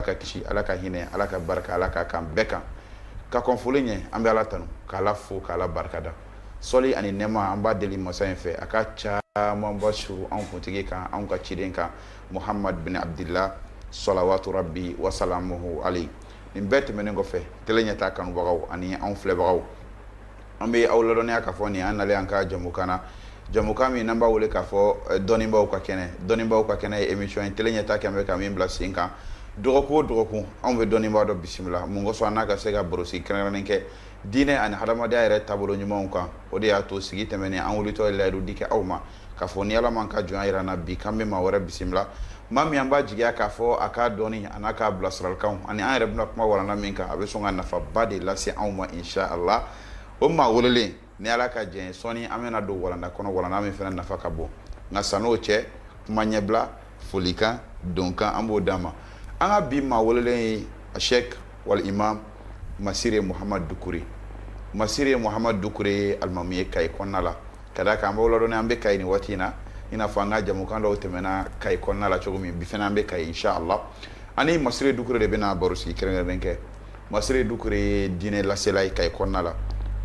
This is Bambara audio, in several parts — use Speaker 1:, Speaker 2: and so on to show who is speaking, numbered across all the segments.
Speaker 1: ka kisi ala ka hinɛ ala ka barika ala k'a k'an bɛɛ kan ka kɔn foli ɲɛ an bɛ ala tanu k'ala fo k'ala barikada sɔli ani nɛma an b'a deli masa in fɛ a ka camanba suuru an kuntigi kan an ka ciden kan muhamadu bin abudila salawatu rabi wa salamuhu aleyi nin bɛɛ tɛmɛnen kɔfɛ tele ɲɛtaa kanubagaw ani an filɛbagaw An bɛ aw ladɔnniya k'a fɔ nin an nalen an ka jamukan na jamukan min n'an b'a wele k'a fɔ dɔnnibaw ka kɛnɛ dɔnnibaw ka kɛnɛ ye emission ye tele ɲɛtaa kɛmɛ ka min bila sen kan dɔgɔkun o dɔgɔkun anw bɛ dɔnnibaa dɔ bisimila mun kosɔn an n'a ka se ka barosigi kɛrɛnkɛrɛnnen kɛ diinɛ ani hadamadenya yɛrɛ taabolo ɲumanw kan o de y'a to sigi tɛmɛnen an wulitɔ ye layidu di kɛ aw ma K'a fɔ ni Ala m'an ka jɔnya jira an na bi k'an bɛ maa wɛrɛ bisimila, maa min an b'a jigiya k'a fɔ a ka dɔnni an'a ka bilasiralikanw ani an yɛrɛ bɛna kuma walanda min kan a bɛ sɔn ka nafaba de lase anw ma incha Allah o maa welelen ni Ala ka jɛn ye sɔɔni an bɛna don walanda kɔnɔ walanda min fana nafa ka bon nka san'o cɛ kuma ɲɛbila folikan donkan an b'o d'a ma an ka bi maa welelen ye sɛki wal imam masire muhamadu dukure masire muhamadu dukure ye alimamu ye kayi kɔnɔna la ka d'a kan an b'aw ladɔnniya an bɛ kayi nin waati in na i n'a fɔ an ka jamukan dɔw tɛmɛna kayi kɔnɔna la cogo min bi fana an bɛ kayi inshallah ani masire dukure de bɛna baro sigi kɛrɛnkɛrɛnnen kɛ Masire Doucouré ye diinɛ lasela ye Kayi kɔnɔna la,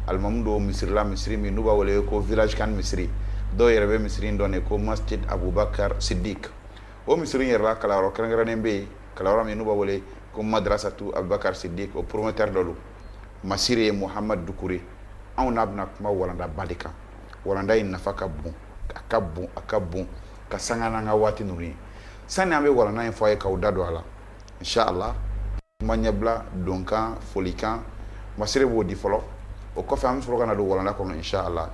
Speaker 1: alimamu don misiri la misiri min n'u b'a wele ko village CAN misiri, dɔw yɛrɛ bɛ misiri in dɔn de ko Masjid Abubakar Siddique o misiri in yɛrɛ la kalanyɔrɔ kɛrɛnkɛrɛnnen bɛ yen, kalanyɔrɔ min n'u b'a wele ko Madrasatou Abubakar Siddique o promoteur dɔ don Masire Mohamad Doucouré, anw n'a bɛna kuma walandaba de kan, walanda in nafa ka bon, a ka bon, a ka bon ka sanga n'an ka waati ninnu ye, sani an bɛ walanda in fɔ a ye k'aw da don a la, in sha Allah. Kuma ɲɛbila, donkan, folikan, Masire b'o di fɔlɔ, o kɔfɛ an bɛ sɔrɔ ka na don walanda kɔnɔ in sha Allah,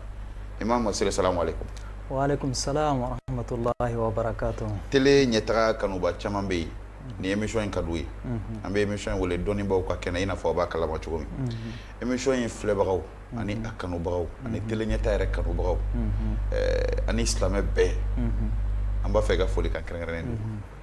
Speaker 1: Imam Masire salaamu aleyikoum. Wa aleyikoum
Speaker 2: salaam wa rahamatulahi wa barakatuhu. Tele ɲɛtaga
Speaker 1: kanubaa caaman bɛ yen ni emission in ka d'u ye, unhun, an bɛ emission in wele dɔnnibaaw ka kɛnɛ i n'a fɔ aw b'a kalama cogo min, unhun, emission in filɛbagaw ani a kanubagaw ani tele ɲɛtaa yɛrɛ kanubagaw ɛɛ ani silamɛ bɛɛ, unhun, an b'a fɛ ka folikan kɛrɛnkɛrɛnnen d'u ma.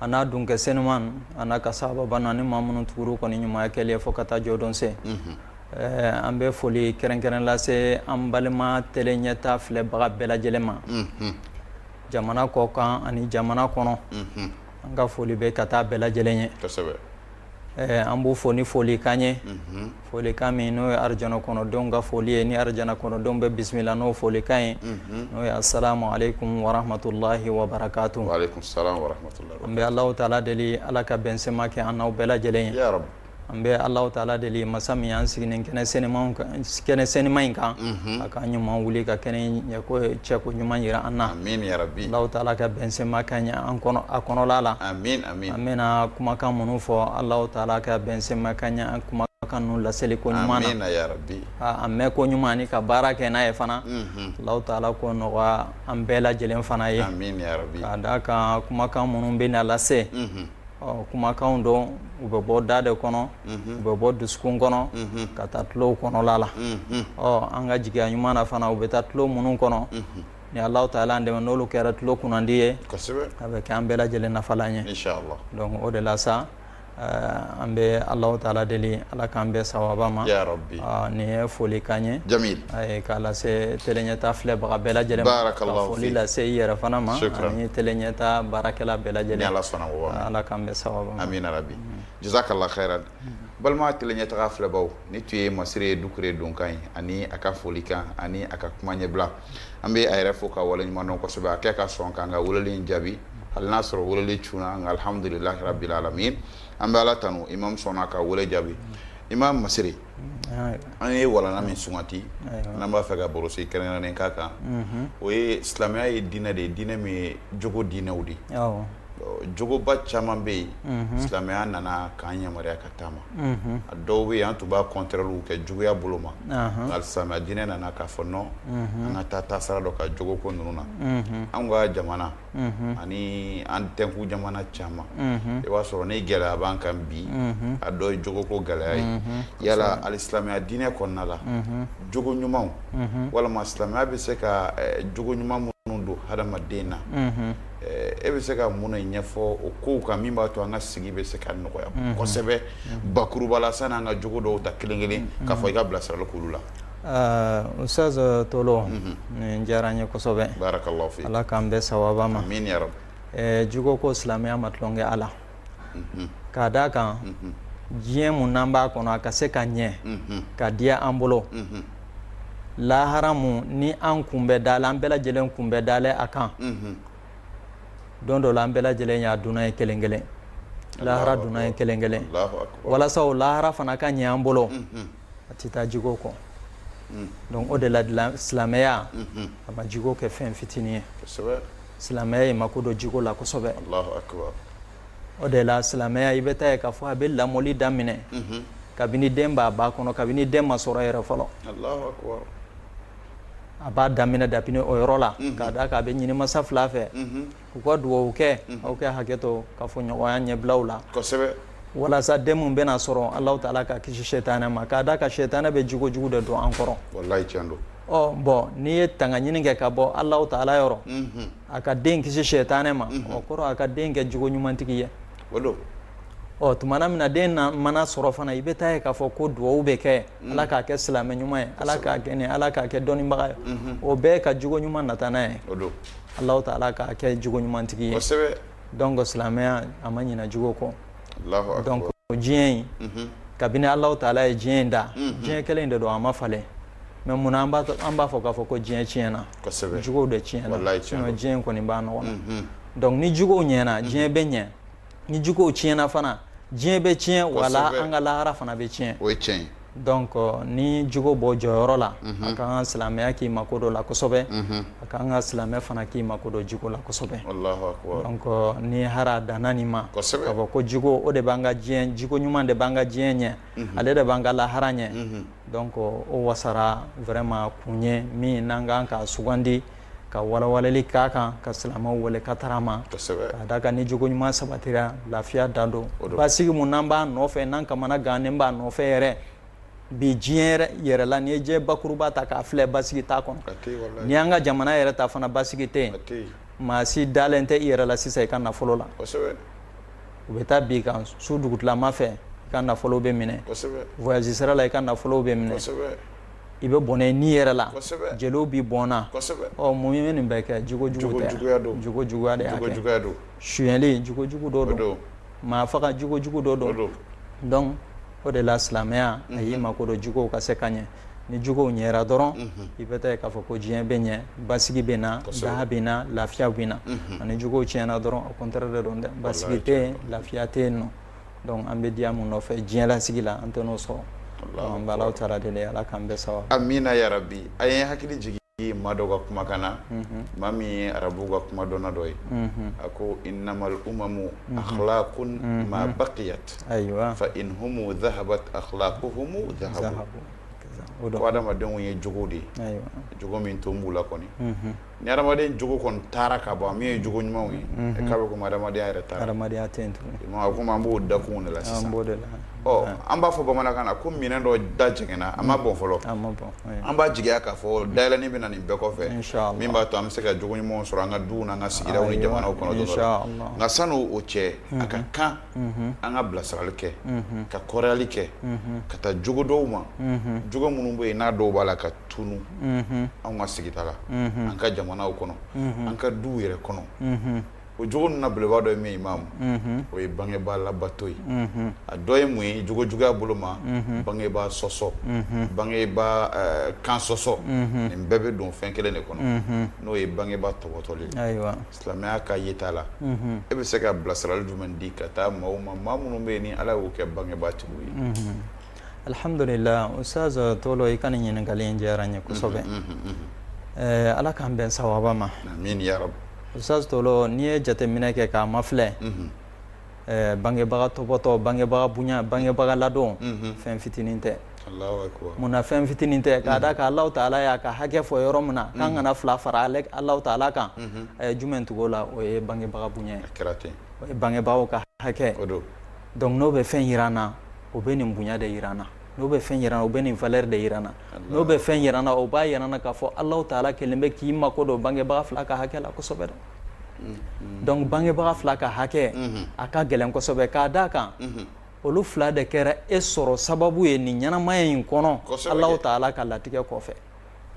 Speaker 2: an'a dunkɛ senuman an'a ka sahababa naani maa minnu tugur'u kɔ ni ɲumanya kɛli ye fo ka taa jɔdon se an bɛ foli kɛrɛnkɛrɛn lase an balima tele ɲɛtaa filɛbaga bɛɛ lajɛlen ma jamana kɔ kan ani jamana kɔnɔ an ka foli bɛ ka taa bɛɛ lajɛlen ye an b'u fo ni folikan ye folikan min n'o ye arijana kɔnɔdenw ka foli ye ni arijana kɔnɔdenw bɛ bisimila n'o folikan ye n'o ye asalamu aleyikum wa rahamatulahi wa
Speaker 1: barakatu an bɛ alahu taala deli
Speaker 2: ala ka bɛnsɛma kɛ an n'aw bɛɛ lajɛlen ye an bɛ
Speaker 1: alahu
Speaker 2: taala deli masa min y'an sigi nin kɛnɛ senuman in kan a k'an ɲuman wuli ka kɛnɛ ɲɛ cɛ ko ɲuman jira an na alahu
Speaker 1: taala ka bɛnsɛma
Speaker 2: k'an ye a kɔnɔ la an
Speaker 1: bɛna
Speaker 2: kumakan minnu fɔ alahu taala k'an bɛnsenma ka ɲɛ kumakan ninnu laseli ko ɲuman
Speaker 1: na a mɛn ko ɲuman
Speaker 2: ani ka baara kɛ n'a ye fana alahu taala k'o nɔgɔya an bɛɛ lajɛlen fana ye k'a
Speaker 1: d'a kan
Speaker 2: kumakan minnu bɛ na lase ɔ kumakanw don u bɛ bɔ da de kɔnɔ u bɛ bɔ dusukun kɔnɔ ka taa tulow kɔnɔla la ɔ an ka jigiya ɲuman na fana u bɛ taa tulo minnu kɔnɔ ni alahu taala an dɛmɛ n'olu kɛra tulo kunnandi ye a bɛ kɛ an bɛɛ lajɛlen nafalan ye donc o
Speaker 1: de la
Speaker 2: sa an bɛ alahu taala deli ala k'an bɛn sawaba ma nin ye
Speaker 1: foli
Speaker 2: kan ye jamil k'a
Speaker 1: lase
Speaker 2: tele ɲɛta filɛbaga bɛɛ lajɛlen ma ka foli lase i yɛrɛ fana ma ani tele ɲɛta baarakɛla bɛɛ lajɛlen
Speaker 1: ala ala k'an bɛn sawaba
Speaker 2: ma amin rabbi
Speaker 1: jazakallah khairan balima tele ɲɛtaga filɛbaw nin tun ye masire dukure donkan ye ani a ka foli kan ani a ka kuma ɲɛbila an bɛ a yɛrɛ fo k'a wale ɲuman dɔn kosɛbɛ a kɛ ka sɔn k'an ka weleli jaabi hali n'a sɔrɔ weleli cunna nka alihamdulilahi rabil alamin an bɛ ala tanu imam sɔnna ka wele jaabi imam masire an ye walanda min sugandi n'an b'a fɛ ka barosigi kɛrɛnkɛrɛnnen k'a kan o ye silamɛya ye diinɛ de ye diinɛ min ye jogo diinɛw de ye jogoba caman bɛ yen silamɛya nana k'an yamaruya ka taama a dɔw bɛ yen an tun b'a kɔntrɛliw kɛ juguya bolo ma silamɛya diinɛ nana k'a fɔ non an ka taa taasira dɔ kan jogo ko ninnu na an ka jamana ani an tɛnku jamana caman i b'a sɔrɔ ni gɛlɛya b'an kan bi a dɔ ye jogoko gɛlɛya ye yala alisilamɛya diinɛ kɔnɔna la jogo ɲuman walima silamɛya bɛ se ka jogo ɲuman minnu don hadamaden na e bɛ se ka mun ɲɛfɔ o kow kan min b'a to an ka sigi bɛ se ka nɔgɔya kosɛbɛ bakurubala sanni an ka jogo dɔw ta kelen kelen k'a fɔ i ka bilasirali k'olu la
Speaker 2: ustaz tolo nin diyara n ye kosɛbɛ barakallahu fi ala k'an
Speaker 1: bɛn sawaba ma
Speaker 2: amin
Speaker 1: ya rabbi jogo ko silamɛya
Speaker 2: ma tulon kɛ a la k'a d'a kan diɲɛ mun n'an b'a kɔnɔ a ka se ka ɲɛ ka diya an bolo lahara mun ni an kun bɛ dalen an bɛɛ lajɛlen kun bɛ dalen a kan don dɔ la an bɛɛ lajɛlen y'a dunan ye kelen kelen lahara dunan ye kelen kelen walasa o lahara fana ka ɲɛ an bolo a tɛ taa jigo kɔ mm. donc o de la silamɛya mm-hmm. a ma jigo kɛ fɛn fitinin ye silamɛya ye mako don jigo la kosɛbɛ o de la silamɛya i bɛ taa ye k'a fɔ a bɛ lamɔli daminɛ mm-hmm. kabini den b'a ba kɔnɔ kabini den ma sɔrɔ yɛrɛ fɔlɔ a b'a daminɛ dabini o yɔrɔ la mhm. k'a d'a kan a bɛ ɲini masa fila fɛ mhm. u ka dugawu kɛ aw ka hakɛ to kafoɲɔgɔnya ɲɛbilaw la walasa den min bɛna sɔrɔ alahu taala k'a kisi sɛtanɛ ma k'a da kan sɛtanɛ bɛ jogo jugu de don an kɔrɔ
Speaker 1: wallahi tiɲɛ don bɔn n'i ye
Speaker 2: tangaɲini kɛ ka bɔ alahu taala yɔrɔ a ka den kisi sɛtanɛ ma o kɔrɔ a ka den kɛ jogo ɲumantigi ye ɔ tuma min na den mana sɔrɔ fana i bɛ t'a ye k'a fɔ ko dugawu bɛ kɛ mm. ala k'a kɛ silamɛ ɲuman ye ala k'a kɛ ni ala k'a kɛ dɔnnibaga ye mm-hmm. o bɛɛ ka jogo ɲuman nata n'a ye alahu taala k'a kɛ jogo ɲumantigi ye donc silamɛya a ma ɲina jogo kɔ donc diɲɛ in mm-hmm. kabini alahu taala ye diɲɛ in da mm-hmm. diɲɛ kelen in de don a ma falen mais munna an b'a fɔ k'a fɔ ko diɲɛ tiɲɛna jogow de tiɲɛna sinon diɲɛ in kɔni b'a nɔgɔn na donc ni jogow ɲɛna diɲɛ bɛ ɲɛ ni jogow tiɲɛna fana diɲɛ bɛ tiɲɛ wala an ka lahara fana bɛ tiɲɛ o ye tiɲɛ
Speaker 1: ye
Speaker 2: donc ni jogo b'o jɔyɔrɔ la a ka kan silamɛya k'i mako don a la kosɛbɛ a ka kan ka silamɛ fana k'i mako don jogo la kosɛbɛ donc ni hara danna nin ma k'a fɔ ko jogo o de b'an ka diɲɛ jogo ɲuman de b'an ka diɲɛ ɲɛ ale de b'an ka lahara ɲɛ donc o wasara vraiment kun ye min n'an ka kan k'a sugandi ka walawalali k'a kan ka silamɛw wele ka taga a ma k'a da kan ni jogo ɲuman sabatira lafiya dan don basigi min n'an b'a nɔfɛ n'an kamanagannen b'a nɔfɛ yɛrɛ bi diɲɛ yɛrɛ la n'i ye diɲɛ bakuruba ta k'a filɛ basigi t'a kɔnɔ ni an ka jamana yɛrɛ ta fana basigi tɛ yen maa si dalen tɛ i yɛrɛ la sisan i ka nafolo la u bɛ taa bin i kan su dugutilama fɛ i ka nafolo bɛ minɛ voyage sira la i ka nafolo bɛ minɛ i bɛ bɔnɛ i ni yɛrɛ la jeliw bɛ bɔn mun ye nin bɛɛ kɛ jogo jugu tɛ jogo juguya de y'a kɛ suyɛnli jogo jugu dɔ don maa faga jogo jugu dɔ don donc o de la silamɛya a y'i mako don jogow ka se ka ɲɛ ni jogow ɲɛra dɔrɔn i bɛ taa k'a fɔ ko diɲɛ bɛ ɲɛ basigi bɛ na daha bɛ na lafiya bɛ na ani jogow tiɲɛna dɔrɔn a contraire de don dɛ basigi tɛ yen lafiya tɛ yen nɔ donc an bɛ diya min nɔfɛ diɲɛlasigi la an tɛ n'o sɔrɔ an b'alahu taala deli ala k'an bɛɛ saba amina ya rabbi
Speaker 1: a ye hakili jigin maa dɔ ka kumakan na maa min ye arabu ka kumadɔnna dɔ ye a ko innamal umamu akhlaqun ma baqiyat ayiwa fa in humu dhahabat akhlaquhumu dhahabu ko adamadenw ye jogo de ye jogo min to b'u la kɔni Ni hadamaden jogo kɔni taara ka ban min ye jogo ɲumanw ye unhun k'a bɛ komi hadamadenya yɛrɛ taara hadamadenya tɛ yen tugun i m'a ye komi an b'o dakun de la sisan an b'o de la ɔ an b'a fɔ bamanankan na ko minɛn dɔ da jɛngɛnna a ma bɔn fɔlɔ a ma bɔn oui an b'a jigiya k'a fɔ dayɛlɛni bɛ na nin bɛɛ kɔfɛ inchallah min b'a to an bɛ se ka jogo ɲumanw sɔrɔ an ka duw n'an ka sigidaw ni jamanaw kɔnɔ don dɔ la inchallah nka san'o o cɛ a ka kan unhun an ka bilasirali kɛ unhun ka kɔrɔyali kɛ unhun ka taa jogo dɔw ma unhun jogo minnu bɛ yen n'a dɔw b'a la ka tunu an ka sigida la an ka jamanaw kɔnɔ an ka duw yɛrɛ kɔnɔ o jogo ninnu na belebeleba dɔ ye min ye imamu o ye bangebaa labato ye a dɔ ye mun ye jogo juguya bolo ma bangebaa sɔsɔ bangebaa kan sɔsɔ nin bɛɛ bɛ don fɛn kelen de kɔnɔ n'o ye bangebaa tɔbɔtɔli ye silamɛya ka yeta la e bɛ se ka bilasirali jumɛn di ka taa maaw ma maa minnu bɛ yen ni ala y'u kɛ bangebaatigiw ye
Speaker 2: Alihamdulila Usitazi Tolo i ka nin ɲininkali in diyara n ye kosɛbɛ ala k'an bɛn sawaba
Speaker 1: ma Usitazi
Speaker 2: Tolo n'i ye jateminɛ kɛ k'a mafilɛ bangebaga tɔbɔtɔ bangebaga bonya bangebaga ladon fɛn fitinin tɛ munna fɛn fitinin tɛ k'a da kan Allahu taala y'a ka hakɛ fɔ yɔrɔ min na k'an kana fila fara Allahu taala kan a ye jumɛn tugu o la o ye bangebaga bonya ye bangebagaw ka hakɛ donc n'o bɛ fɛn yira an na o bɛ nin bonya de yira an na n'o bɛ fɛn yira an na o bɛ nin valeur de yira an na n'o bɛ fɛn yira an na o b'a yira an na k'a fɔ Allahu taala kɛlen bɛ k'i mako don bangebaga fila ka hakɛ la kosɛbɛ dɛ donc bangebaga fila ka hakɛ a ka gɛlɛn kosɛbɛ k'a d' a kan olu fila de kɛra e sɔrɔ sababu ye nin ɲɛnamaya in kɔnɔ Allahu taala ka latigɛ kɔfɛ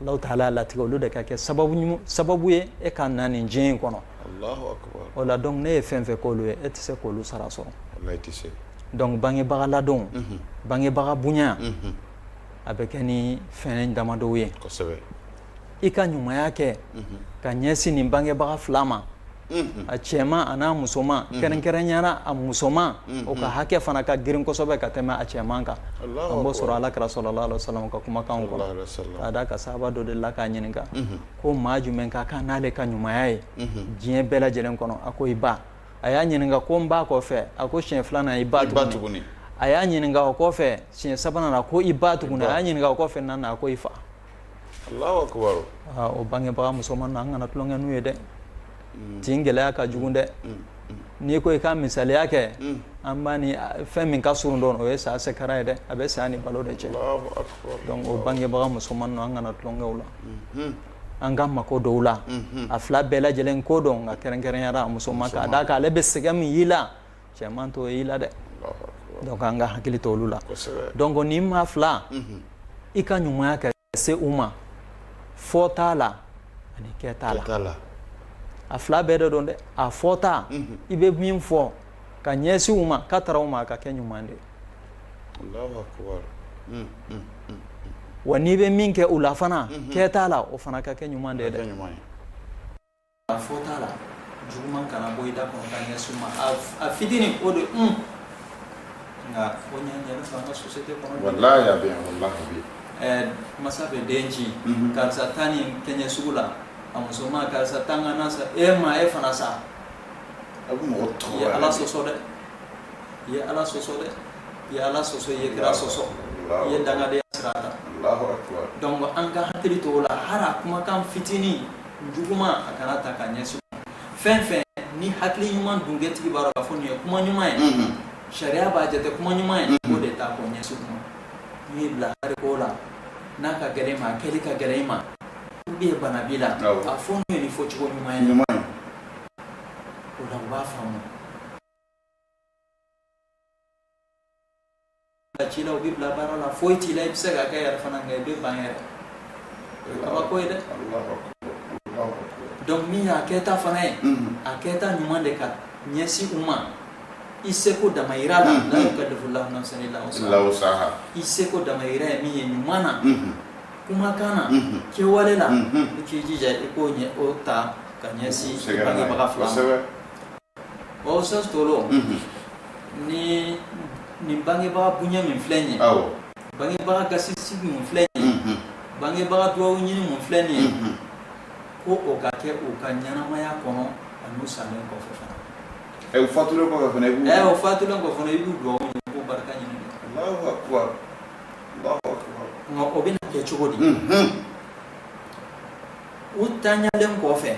Speaker 2: Allahu taala y'a latigɛ olu de ka kɛ sababu ye e ka na nin diɲɛ in kɔnɔ, Alahu akbar, o
Speaker 1: la donc n'e ye fɛn
Speaker 2: fɛn k'olu ye e tɛ se k'olu sara sɔrɔ, walahi i tɛ se,
Speaker 1: donc bangebaga
Speaker 2: ladon, unhun, bangebaga bonya, unhun, a bɛ kɛ ni fɛn damadɔw ye, kosɛbɛ,
Speaker 1: i ka
Speaker 2: ɲumanya kɛ, unhun, ka ɲɛsin nin bangebaga fila ma a cɛman a n'a musoman kɛrɛnkɛrɛnyara a musoman o ka hakɛ fana ka girin kosɛbɛ ka tɛmɛ a cɛman kan an b'o sɔrɔ alakira sallallahu alaihi wasallam ka kumakan kɔnɔ k'a d'a kan sahaba dɔ delila k'a ɲininka ko maa jumɛn ka kan n'ale ka ɲumanya ye diɲɛ bɛɛ lajɛlen kɔnɔ a ko i ba a y'a ɲininka ko n ba kɔ fɛ a ko siɲɛ filanan i ba tuguni a y'a ɲininka o kɔ fɛ siɲɛ sabanan a ko i ba tuguni a y'a ɲininka o kɔ fɛ naaninan a ko i fa
Speaker 1: Allahu akibaru, aa o bangebaga
Speaker 2: musoman ninnu an kana tulonkɛ n'u ye dɛ, unhun, tin gɛlɛya ka jugu dɛ, unhun, n'i ko i ka misaliya kɛ, unhun, an b'a ni fɛn min ka surun dɔn o ye saya sɛkara ye dɛ, a bɛ saya ni balo de cɛ, Alahu akibaru, donc o bangebaga musoman ninnu an kana tulonkɛ u la, unhun, an ka mako don u la, unhun, a fila bɛɛ lajɛlen ko don nka kɛrɛnkɛrɛnyara a musoman k'a d'a kan ale bɛ sɛgɛn min y'i la cɛman t'o y'i la dɛ donc an ka hakili to olu la donc nin maa fila mhm. i ka ɲumanya ka se u ma fɔta la ani kɛta la a fila bɛɛ de don dɛ a fɔta mhm. i bɛ min fɔ ka ɲɛsin u ma ka tara u ma a ka kɛ ɲuman de ye
Speaker 1: mm, mm,
Speaker 2: mm, wa n'i bɛ min kɛ u la fana mhm. kɛta la o fana ka kɛ ɲuman de ye dɛ A fɔta la juguman kana bɔ i da kɔnɔ ka ɲɛsin u ma a fitinin o de un nka ko ɲɛ ɲɛ fa an ka société kɔnɔ wallahi a bɛ yan
Speaker 1: wallahi a bɛ ɛɛ masa bɛ
Speaker 2: den ci mhm. karisa taa nin kɛ n ye sugu la a musoman karisa taa n ka na san e ma e fana sa a
Speaker 1: bɛ mɔgɔ tɔɔrɔ i ye ala sɔsɔ
Speaker 2: dɛ i ye ala sɔsɔ dɛ i ye ala sɔsɔ i ye kira sɔsɔ i ye dangadenya sira ta donc an ka hakili to o la hali a kumakan fitinin juguman a kana ta ka ɲɛsin u ma fɛn fɛn ni hakili ɲuman dungɛtigi b'a dɔn k'a fɔ nin ye kuma ɲuman ye mhm. sariya b'a jate kuma ɲuman ye mhm. o de ta k'o ɲɛsin u ma n'u y'i bila hali ko la n'a ka gɛlɛn i ma a kɛli ka gɛlɛn i ma ou bien bana b'i la a fɔ n'u ye ni fɔcogo ɲuman ye o la u b'a faamu A ci la u b'i bila baara la foyi t'i la i bɛ se k'a kɛ yɛrɛ fana nka i bɛ ban yɛrɛ o ye kabako ye dɛ donc min y'a kɛta fana ye a kɛta ɲuman de ka ɲɛsin u ma i seko damayira la la yukallifu lahu nafsan illa wusaha i seko damayira ye min ye ɲuman na kumakan na kɛwale la i k'i jija i k'o ɲɛ o ta ka ɲɛsin bangebaga fila ma Bon sens tɔɔrɔ ni nin bangebaga bonya min filɛ nin ye bangebaga gasisigi min filɛ nin ye bangebaga dugawu ɲini min filɛ nin ye ko o ka kɛ u ka ɲɛnamaya kɔnɔ ani u salen
Speaker 1: kɔfɛ fana u fatulen
Speaker 2: kɔfɛ i b'u dugawu ɲini k'u barika
Speaker 1: ɲini nka
Speaker 2: o bɛna kɛ cogo di u tanyalen kɔfɛ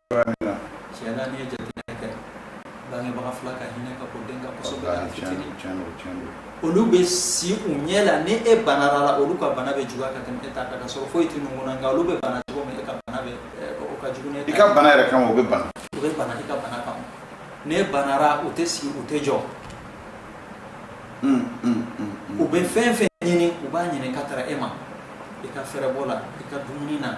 Speaker 2: olu bɛ si u ɲɛ la ni e banara olu ka bana bɛ juguya ka tɛmɛ e ta kan ka sɔrɔ foyi tɛ ninnu na nka olu bɛ bana cogo min e ka bana bɛ o ka jugu i ka bana yɛrɛ kan o bɛ
Speaker 1: bana u bɛ bana i ka bana
Speaker 2: kama ni e banara u tɛ sigi u tɛ jɔ u bɛ fɛn fɛn ɲini u b'a ɲini k'a tara e ma i ka fɛɛrɛbɔ la i ka dumuni na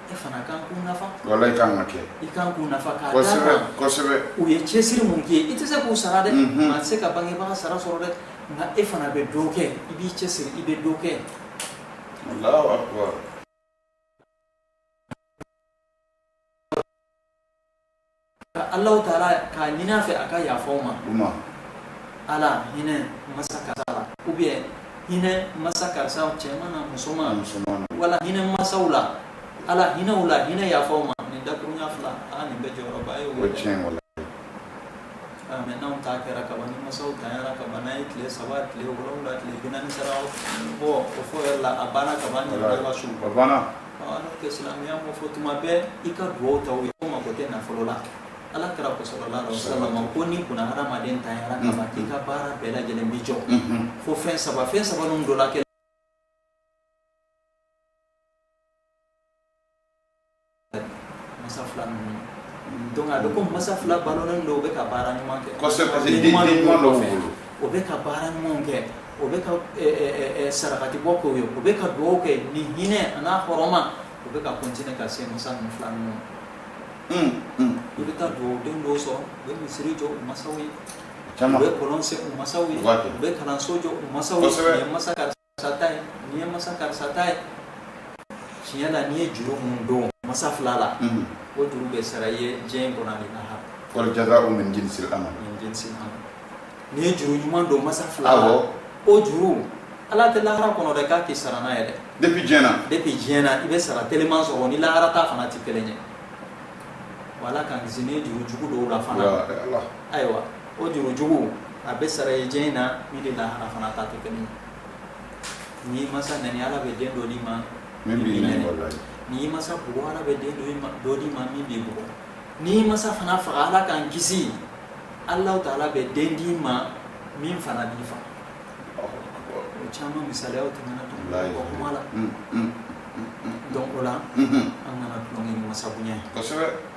Speaker 2: e fana kan k'u nafa wallahi
Speaker 1: i kan ka kɛ i kan k'u nafa
Speaker 2: k'a da kosɛbɛ kan
Speaker 1: kosɛbɛ u ye
Speaker 2: cɛsiri
Speaker 1: min
Speaker 2: k'i ye i tɛ se k'u sara dɛ mhm. maa tɛ se ka bangebaga sara sɔrɔ dɛ nka e fana bɛ dɔ kɛ i b'i cɛsiri i bɛ dɔ
Speaker 1: kɛ Allahu akbar
Speaker 2: ka Allahu taala k'a ɲini a fɛ a ka yafa u
Speaker 1: ma
Speaker 2: ala hinɛ masa karisa la ou bien hinɛ masa karisa cɛman na musoman wala hinɛ masaw la ala hinɛ u la hinɛ yafa u ma nin dakurunya fila a nin bɛ jɔyɔrɔba ye o tiɲɛ wallahi mɛ n'anw ta kɛra kaban ni masaw tanyara kaban n'a ye tile saba tile wolowula tile binaani sara bɔ o fɔ yɛrɛ la a banna kaban ka su tɛ silamɛya m'o fɔ tuma bɛɛ i ka dugawu ta u ye k'u mako tɛ nafolo la ala kira ko sallallahu alaihi wasallam ko ni kunna hadamaden tanyara ka ban k'i ka baara bɛɛ lajɛlen bi jɔ fo fɛn saba fɛn saba ninnu dɔ la kɛ masa fila ninnu donc a bɛ ko masa fila balolen don u bɛ ka baara ɲuman kɛ kosɛbɛ parce que den
Speaker 1: ɲuman dɔ b'u bolo o bɛ ka
Speaker 2: baara ɲumanw kɛ o bɛ ka sarakati bɔ k'u ye o bɛ ka dugaw kɛ ni hinɛ a n'a hɔrɔma o bɛ ka continuer ka se masa ninnu fila ninnu i bɛ taa dugaw den dɔw sɔrɔ u bɛ misiri jɔ u masaw ye u bɛ kɔlɔn sen u masaw ye u bɛ kalanso jɔ u masaw ye masa ka sa ta ye nin ye masa karisa ta ye tiɲɛ na n'i ye juru minnu don masa fila la o juru bɛ sara i ye diɲɛ in kɔnɔ ni lahara wal jazaa'u min
Speaker 1: jinsil amal min jinsil amal
Speaker 2: n'i ye juru ɲuman don masa fila la awɔ o juru ala tɛ lahara kɔnɔ dɛ k'a k'i sara n'a ye dɛ depuis diɲɛ na
Speaker 1: depuis diɲɛ na i bɛ sara teliman sɔrɔ
Speaker 2: ni lahara ta fana tɛ kelen ye ala k'an kisi n'i ye juru jugu don u la fana ayiwa o juru jugu a bɛ sara i ye diɲɛ in na min ni lahara fana ta tɛ kelen ye n'i masa nɛni ala bɛ den dɔ d'i ma min b'i
Speaker 1: nɛni n'i masa
Speaker 2: bugɔ ala bɛ den dɔ d'i ma min b'i bugɔ n'i masa fana faga ala k'an kisi alahu taala bɛ den d'i ma min fana b'i faga o caman misaliyaw tɛmɛna o kuma la donc o la an kana tulonkɛ ni masa bonya ye kosɛbɛ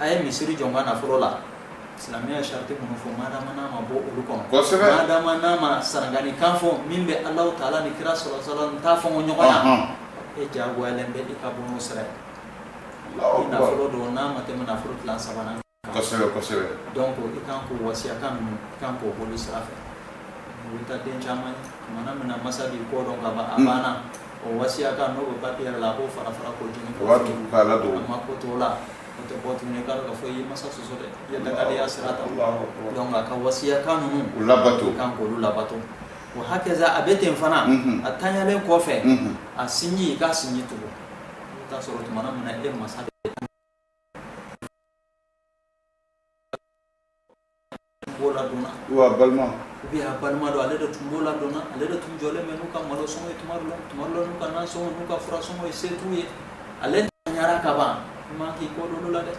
Speaker 2: a ye misiri jɔ n ka nafolo la silamɛya sariti minnu fɔ madama n'a ma bɔ olu kɔnɔ kosɛbɛ madama n'a ma sarangani kan fɔ min bɛ Alahu taala ni kira sallallahu alaihi wasallam ta fɔ ɲɔgɔn na ɔnhɔn e jagoyalen bɛ i ka bɔ n'o sira ye Alahu akibaru ni nafolo don n'a ma tɛmɛ nafolo tila sabanan kan kosɛbɛ
Speaker 1: kosɛbɛ donc i
Speaker 2: kan k'o wasiyakan ninnu i kan k'o boli sira fɛ i bɛ taa den caman ye tumana min na masa b'i kɔ don ka ban a banna O wasiyakan n'o bɛ papiye yɛrɛ la a k'o fara fara k'o jeni a mako t'o la o tɛ bɔ tuguni k'a dɔn k'a fɔ i ye masa sɔsɔ dɛ i ye dangadenya sira ta donc a ka wasiyakan ninnu i kan k'olu labato wa hakɛza a bɛ ten fana a tanyalen kɔfɛ a sinji i k'a sinji tugun i bɛ taa sɔrɔ tumana min na e masa
Speaker 1: b'o ladonna wa balima ou bien a
Speaker 2: balima dɔ ale de tun b'o ladonna ale de tun jɔlen bɛ n'u ka malo sɔngɔ ye tuma dɔ la tuma dɔ la n'u ka nan sɔngɔ n'u ka fura sɔngɔ ye se t'u ye ale tanyara ka ban i man k'i kɔ don olu la dɛ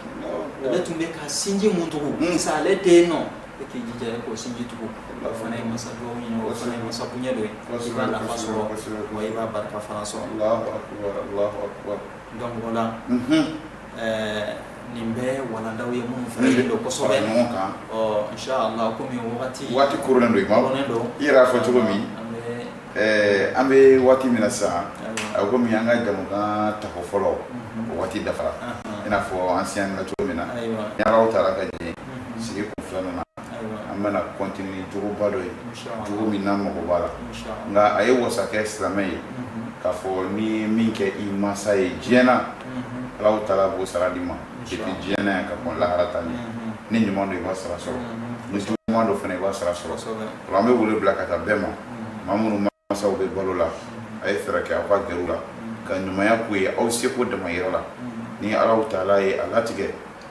Speaker 2: ale tun bɛ ka sinji mun tugu sa hmm. ale tɛ yen nɔ e k'i jija e k'o sinji tugu o fana ye masa dugawu ɲini o fana ye masa bonya dɔ ye i b'a nafa sɔrɔ wa i b'a barika fana sɔrɔ donc o la Nin bɛɛ walandaw ye minnu fana ɲɔgɔn kɔmi waati koronnen don i
Speaker 1: yɛrɛ y'a fɔ cogo min an bɛ waati min na sa kɔmi an ka jamukan tako fɔlɔ o waati dafara i n'a fɔ an siyɛnna cogo min na ni alahu taala ka ɲɛ sigi kun filanan na an bɛna continuer jogoba dɔ ye jogo min n'an mago b'a la nka a ye wasa kɛ silamɛ ye k'a fɔ ni min kɛ i masa ye diɲɛ na alahu taala b'o sara d'i ma depuis diɲɛ na yan ka kɔn lahara ta ɲɛ ni ɲuman don i b'a sara sɔrɔ ni juguman don fana i b'a sara sɔrɔ o la an bɛ wele bila ka taa bɛɛ ma maa minnu masaw bɛ balo la a ye fɛɛrɛ kɛ aw ka gɛrɛ u la ka ɲumanya k'u ye aw seko damayira la ni alahu taala ye a latigɛ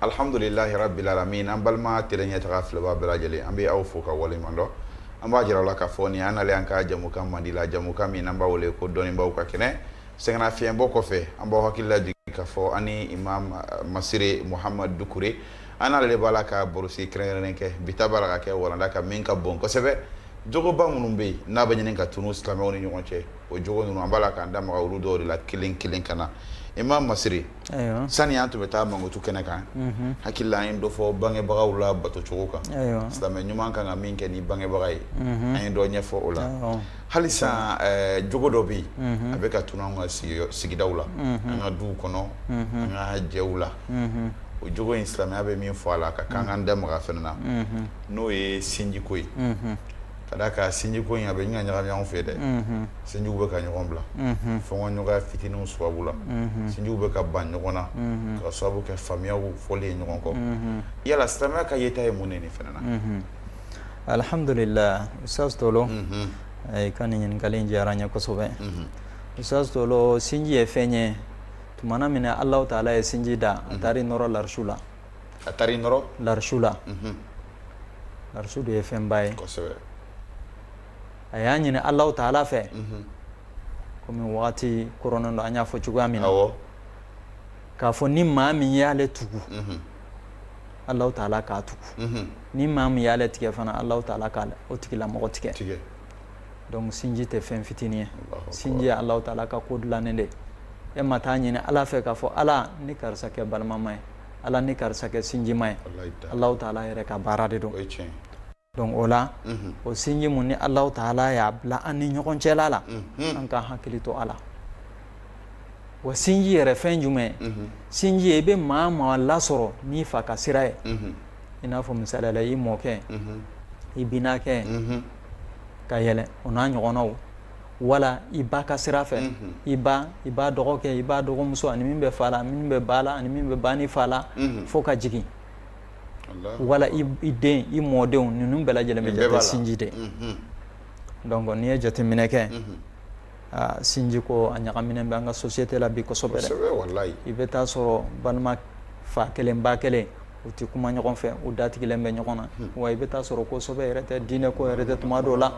Speaker 1: Alihamdulilahi rabili alamina an balima tele ɲɛtaga filɛbaa bɛɛ lajɛlen an bɛ aw fo k'aw waleɲumandɔn an b'a jira la k'a fɔ ni an nalen an ka jamukan mandi la jamukan min an b'a wele ko dɔnnibaw ka kɛnɛ sɛgɛnnafiɲɛbɔ kɔfɛ an b'aw hakili lajigin k'a fɔ ani imamu masire muhamadu dukure an yɛrɛ de b'a la ka barosigi kɛrɛnkɛrɛnnen kɛ bi ta b'a la ka kɛ walanda kan min ka bon kosɛbɛ jogoba minnu bɛ yen n'a bɛ ɲini ka tunun silamɛw ni ɲɔgɔn cɛ o jogo ninnu an b'a la k'an da maga olu dɔw de la kelen kelen ka na imamu masire sani an
Speaker 2: tun bɛ
Speaker 1: taa mankutu kɛnɛ kan hakili la an ye dɔ fɔ bangebagaw labatocogo kan silamɛ ɲuman
Speaker 2: ka kan ka min
Speaker 1: kɛ ni bangebaga ye an ye dɔ ɲɛfɔ o la halisa jogo dɔ bɛ yen a bɛ ka tunun an ka sigidaw la an ka duw kɔnɔ an ka jɛw la o jogo in silamɛya bɛ min fɔ a la ka kan k'an da maga a fana na n'o ye sinjiko ye ka d'a kan sinjiko in a bɛ ɲini ka ɲagami ɲɔgɔn fɛ dɛ sinjiw bɛ ka ɲɔgɔn bila fɔɲɔgɔnkɔya fitininw sababu la sinjiw bɛ ka ban ɲɔgɔn na ka sababu kɛ faamuyaw fɔli ye ɲɔgɔn kɔ yala silamɛya ka yeta ye mun de nin fana na
Speaker 2: alihamdulila usitazi tolo i ka nin ɲininkali in diyara n ye kosɛbɛ usitazi tolo sinji ye fɛn ye tumana min na alahu taala ye sinji da a taara nɔrɔ larisu la a taara i nɔrɔ larisu la larisu dun ye fɛnba ye a y'a ɲini alahu taala fɛ kɔmi waati koronnen don an y'a fɔ cogoya min
Speaker 1: na
Speaker 2: k'a fɔ ni maa min y'ale tugu alahu taala k'a tugu ni maa min y'ale tigɛ fana alahu taala k'o tigilamɔgɔ tigɛ donc sinji tɛ fɛn fitinin ye sinji ye alahu taala ka ko dilannen de ye e ma taa a ɲini ala fɛ k'a fɔ ala n ni karisa kɛ balimama ye ala n ni karisa kɛ sinjima ye alahu taala yɛrɛ ka baara de don donc o la mhm. o sinji min ni alahu taala y'a bila an ni ɲɔgɔn cɛla la mhm. an ka hakili to a la wa sinji yɛrɛ fɛn jumɛn ye mhm. sinji ye i bɛ maa o maa lasɔrɔ n'i fa ka sira ye i n'a fɔ misali la i mɔkɛ i binakɛ ka yɛlɛ o n'a ɲɔgɔnnaw wala i ba ka sira fɛ i ba i ba dɔgɔkɛ i ba dɔgɔmuso ani min bɛ fa la min bɛ ba la ani min bɛ ba ni fa la fo ka jigin wala i den i mɔdenw ninnu bɛɛ lajɛlen bɛ jate sinji de donc n'i ye jateminɛ kɛ sinji ko a ɲagaminen bɛ an ka société la bi kosɛbɛ i bɛ
Speaker 1: taa
Speaker 2: sɔrɔ balima fa kelen ba kelen u tɛ kuma ɲɔgɔn fɛ u datigɛlen bɛ ɲɔgɔn na wa i bɛ taa sɔrɔ ko sɛbɛ yɛrɛ tɛ diinɛ ko yɛrɛ tɛ tuma dɔw la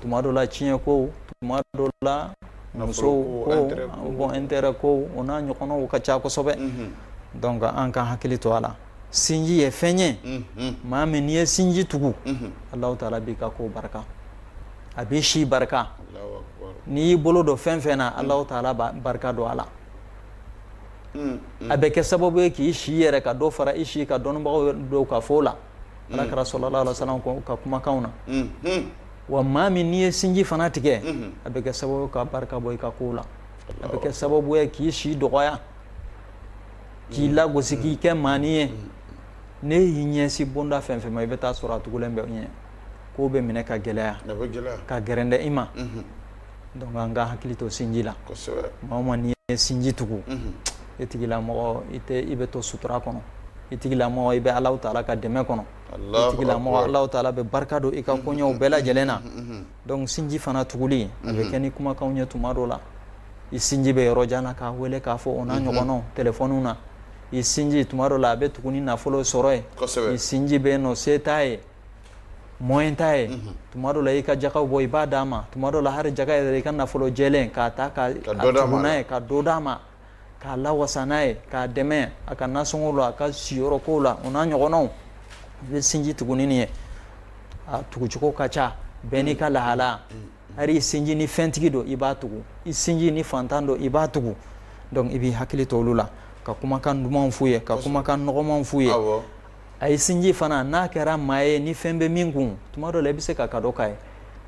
Speaker 2: tuma dɔw la ciyɛn ko tuma dɔw la muso ko bon intérêt ko o n'a ɲɔgɔnnaw ka ca kosɛbɛ donc an ka hakili to a la sinji ye fɛn ye maa min n'i ye sinji tugu ala taala b'i ka ko barika a b'i si barika n'i y'i bolo don fɛn fɛn na ala taala barika don a la a bɛ kɛ sababu ye k'i si yɛrɛ ka dɔ fara i si kan dɔnnibagaw dɔw ka fɔ la ala kira sallallahu alaihi wa sallam ka kumakan na wa maa min n'i ye sinji fana tigɛ a bɛ kɛ sababu ka barika bɔ i ka ko la a bɛ kɛ sababu ye k'i si dɔgɔya k'i lagosi k'i kɛ maanin ye n'i y'i ɲɛsin bonda fɛn fɛn ma i bɛ taa sɔrɔ a tugulen bɛ i ɲɛ ko bɛ minɛ ka gɛlɛya ka gɛrɛntɛ i ma donc an ka hakili to sinji la maa o
Speaker 1: maa n'i
Speaker 2: ye sinji tugu i tigilamɔgɔ i bɛ to sutura kɔnɔ i tigilamɔgɔ i bɛ alahu taala ka dɛmɛ kɔnɔ i tigilamɔgɔ alahu taala bɛ barika don i ka koɲɛw bɛɛ lajɛlen na donc sinji fana tuguli a bɛ kɛ ni kumakanw ye tuma dɔ la i sinji bɛ yɔrɔ jan na k'a weele k'a fo o n'a ɲɔgɔnnaw telefɔniw na i sinji tuma dɔ la a bɛ tugu ni nafolo sɔrɔ ye i sinji bɛ nɔ se t'a ye moyen t'a ye tuma dɔ la i ka jaka bɔ i b'a d'a ma tuma dɔ la hali jaka yɛrɛ i ka nafolo jɛlen k'a ta k'a tugu n'a ye ka dɔ d'a ma k'a lawasa n'a ye k'a dɛmɛ a ka nasɔngɔ la a ka siyɔrɔ kow la o n'a ɲɔgɔnnaw i bɛ sinji tugu ni nin ye a tugucogo ka ca bɛɛ n'i ka lahala hali i sinji ni fɛntigi don i b'a tugu i sinji ni fantan don i b'a tugu donc i b'i hakili to olu la ka kumakan dumanw f'u ye ka kumakan nɔgɔmanw f'u ye a ye sinji fana n'a kɛra maa ye ni fɛn bɛ min kun tuma dɔ la i bɛ se ka cadeau k'a ye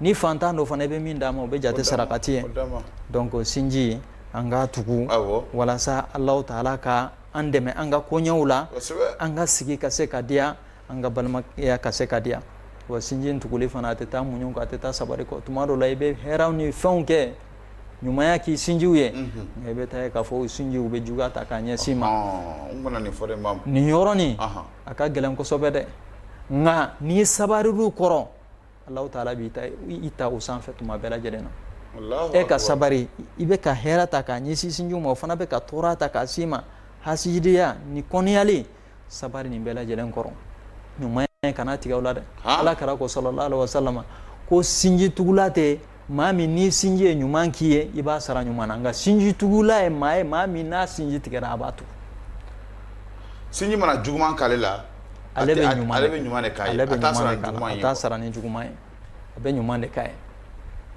Speaker 2: ni fantan don fana i bɛ min d'a ma o bɛ jate sarakati ye donc sinji an k'a tugu walasa alahu taala ka an dɛmɛ an ka koɲɛw la an ka sigi ka se ka diya an ka balimaya ka se ka diya wa sinji in tuguli fana a tɛ taa muɲu kɔ a tɛ taa sabari kɔ tuma dɔ la i bɛ hɛrɛw ni fɛnw kɛ ɲumanya k'i sinjiw ye nka i bɛ taa ye k'a fɔ o sinjiw bɛ juguya ta k'a ɲɛsin i ma nin yɔrɔnin a ka gɛlɛn kosɛbɛ dɛ nka n'i sabarir'u kɔrɔ alahu taala b'i ta u sanfɛ tuma bɛɛ lajɛlen na e ka sabari i bɛ ka hɛrɛ ta k'a ɲɛsin sinji ma o fana bɛ ka tɔɔrɔ ta k'a s'i ma hasidiya ni kɔniyali sabari nin bɛɛ lajɛlen kɔrɔ ɲumanya kana tigɛ o la dɛ ala kira ko sallallahu alaihi wasallam ko sinji tugula tɛ maa min ni sinji ye ɲuman k'i ye i b'a sara ɲuman na nka sinji tugula ye maa ye maa min n'a sinji tigɛra a b'a
Speaker 1: tugu sinji mana juguman k'ale la ale bɛ ɲuman de k'a ye a t'a sara
Speaker 2: ni juguman ye a bɛ ɲuman de k'a ye